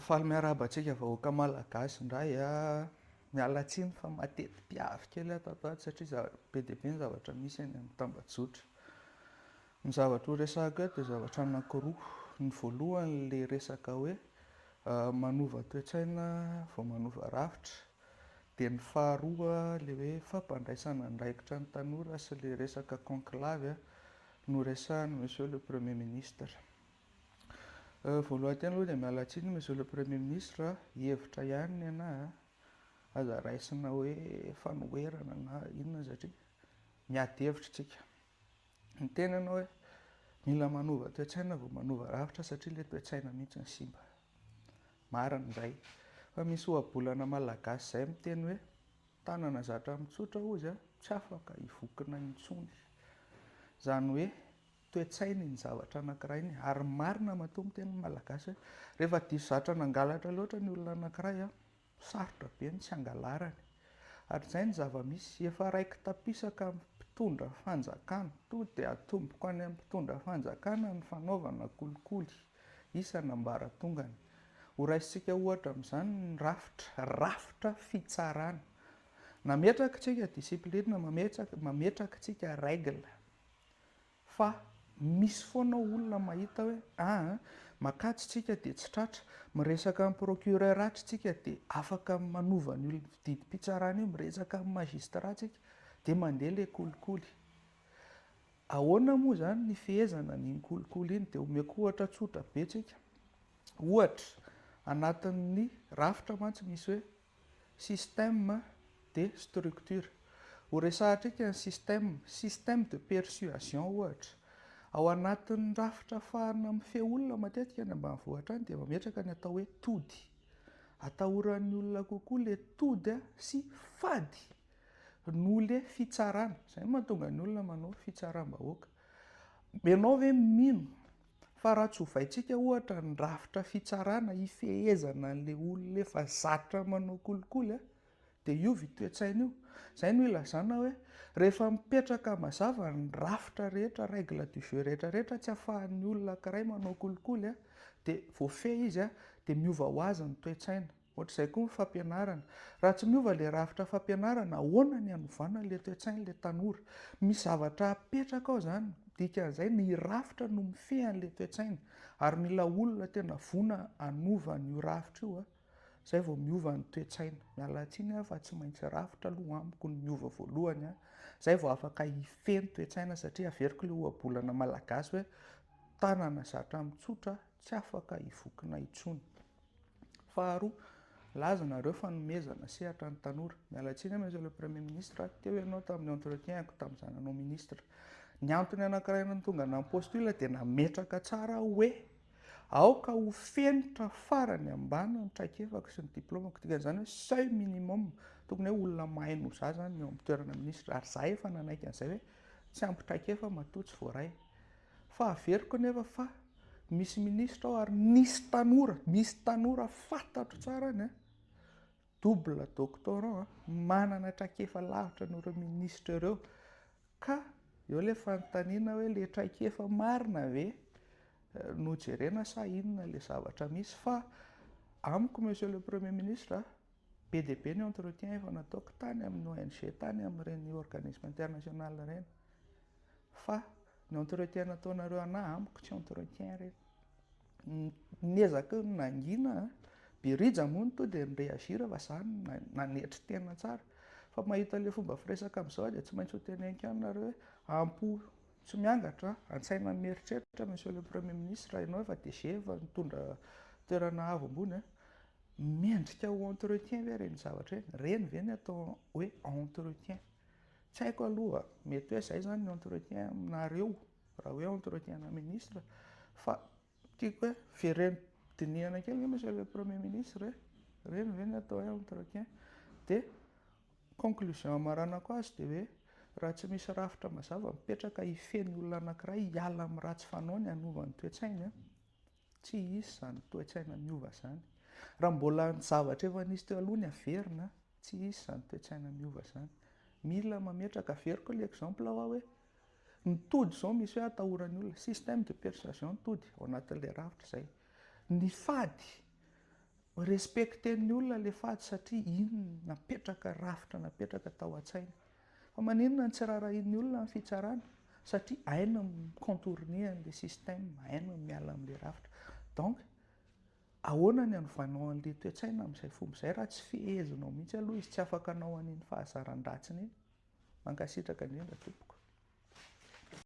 Faly miarahaba antsika vahoaka malagasy indray an! Miala tsiny fa mateti-piavy kely aho tato ato satria za- be dia be ny zavatra misy eny amin'ny tambajotra. Ny zavatra ho resahiko eto dia zavatra anankiroa, ny voalohany le resaka hoe manova toe-tsaina vao manova rafitra, dia ny faharoa le hoe fampandraisana andraikitra ny tanora sy le resaka conclave noresahin'i monsieur le premier ministre. Voalohan tena aloha dia miala tsiny monsieur le premier ministre a, hevitra ihany ny anah a, aza raisina hoe fanoherana na inona satria miady hevitra isika, ny tena ianao hoe mila manova toetsaina vao manova rafitra satria ilay toetsaina mihintsy no simba, marina izay fa misy ohabolana malagasy izay miteny hoe tanana zatra mitsotra hozy a, tsy afaka hivokona intsony, izany hoe. toe-tsainy ny zavatra anankiray ny ary marina matoa miteny ny malagasy hoe rehefa diso zatra nangalatra loatra ny olona anankiray an, sarotra be ny tsy hangalarany. Hatrizay ny zava-misy, efa raiki-tapisaka amin'ny mpitondra fanjakana, tonga dia atomboko any amin'ny mpitondra fanjakana ny fanaovana kolikoly isan'ambaratongany. Horaisintsika ohatra amin'izany ny rafitra, rafitra fitsarana. Nametraka isika discipline, mametraka isika règle. Fa misy foana olona mahita hoe ah makajy tsika dia tsy tratra, miresaka amin'ny procureur atra tsika dia afaka manova an'io didim-pitsarana io, miresaka amin'ny magistrat tsika dia mandeha ilay kolikoly. Ahoana moa izany ny fehezana an'iny kolikoly iny? Dia omeko ohatra tsotra be tsika, ohatra anatin'ny rafitra mantsy misy hoe Système de structure. Ho resahantsika ny système, système de persuasion ohatra. Ao anatin'ny rafitra afahana mifehy olona matetika any ambanivohitra any dia mametraka ny atao hoe tody. Atahoran'ny olona kokoa ilay tody sy fady noho ilay fitsarana. Izay no mahatonga ny olona manao fitsaram-bahoaka. Ianao ve mino Fa raha tsovaintsika ohatra ny rafitra fitsarana hifehezana an'ilay olona efa zatra manao kolikoly dia hiova io toe-tsaina io. Izay no ilazana hoe rehefa mipetraka mazava ny rafitra rehetra, règle du jeu rehetrarehetra tsy afahan'ny olona ankiray manao kolikoly dia voafehy izy dia miova ho azy ny toe-tsaina. Ohatr'izay koa ny fampianarana. Raha tsy miova ilay rafitra fampianarana, ahoana ny hanovana ilay toe-tsain'ilay tanora? Misy zavatra apetraka ao izany. Dikan'izay, ny rafitra no mifehy an'ilay toe-tsaina. Ary mila olona tena voana hanova an'io rafitra io, izay vao miova ny toe-tsaina. Miala tsiny aho fa tsy maintsy rafitra aloha amiko no miova voalohany, izay vao afaka hifehy ny toe-tsaina, satria averiko ilay ohabolana malagasy hoe, tanana zatra mitsotra tsy afaka hivokona intsony. Faharoa, milaza nareo fanomezana sehatra ny tanora. Miala tsiny aho Monsieur le Premier Ministre, teo ianao tamin'ny entretien-ko tamin'ny zananao Ministra. Ny antony anankiray nahatonga ahy nampostule dia nametraka tsara aho hoe, aoka ho fenitra farany ambany ny traikefako sy ny diplaomako. Dikan'izany hoe seuil minimum, tokony hoe olona mahay noho za izany ny eo amin'ny toerana Ministra. Ary za efa nanaiky an'izay hoe, tsy ampy traikefa matoa tsy voaray. Fa averiko anefa fa misy ministra ao ary nisy tanora, misy tanora fantatro tsara any, double doctorant, manana traikefa lavitra noho ireo ministra ireo. Ka eo ilay fanontaniana hoe ilay traikefa marina ve no jerena sa inona ilay zavatra misy? Fa amiko Monsieur le Premier Ministre, Be dia be ny entretien efa nataoko tany amin'ny ONG tany amin'ireny organisme international ireny fa ny entretien nataonareo anah amiko tsy entretien ireny. Niezaka nangina birija moa no tonga dia ni-reagir fa za nanetry tena tsara fa mahita ilay fomba firesaka amin'izao dia tsy maintsy ho teneniko ihany nareo hoe am-po tsy miangatra, an-tsaina mieritreritra monsieur le premier ministre, ianao efa DG efa nitondra toerana avo ambony an! Mendrika ho entretien ve ireny zavatra ireny? Ireny ve no atao hoe entretien? Tsy haiko aloha, mety hoe izay izany ny entretien aminareo, raha hoe entretien-na ministra, fa tiako hoe vereno dinihana kely ve Monsieur le Premier ministre e? Ireny ve no atao hoe entretien? Dia conclusion amaranako azy dia hoe raha tsy misy rafitra mazava mipetraka hifehy ny olona anankiray hiala amin'ny ratsy fanaony hanova ny toe-tsainy, Tsy hisy izany toe-tsaina miova izany. Raha mbola ny zavatra efa nisy teo aloha ny averina, tsy hisy izany toe-tsaina miova izany. Mila mametraka, averiko ilay exemple aho hoe, ny tody izao misy hoe atahoran'ny olona, système de persuasion ny tody, ao anatin'ilay rafitra izay. Ny fady, respecter-n'ny olona ilay fady satria iny napetraka, rafitra napetraka tao an-tsainy. Fa maninona no tsy raharahian'ny olona ny fitsarana? Satria hainy ny mi-contourner an'ilay système, hainy ny miala amin'ilay rafitra. Donc, ahoana ny anovanao an'ilay toe-tsaina amin'izay fomba izay raha tsy fehezinao mihitsy aloha izy, tsy afaka hanao an'iny fahazaran-dratsiny iny? Mankasitraka indrindra tompoko.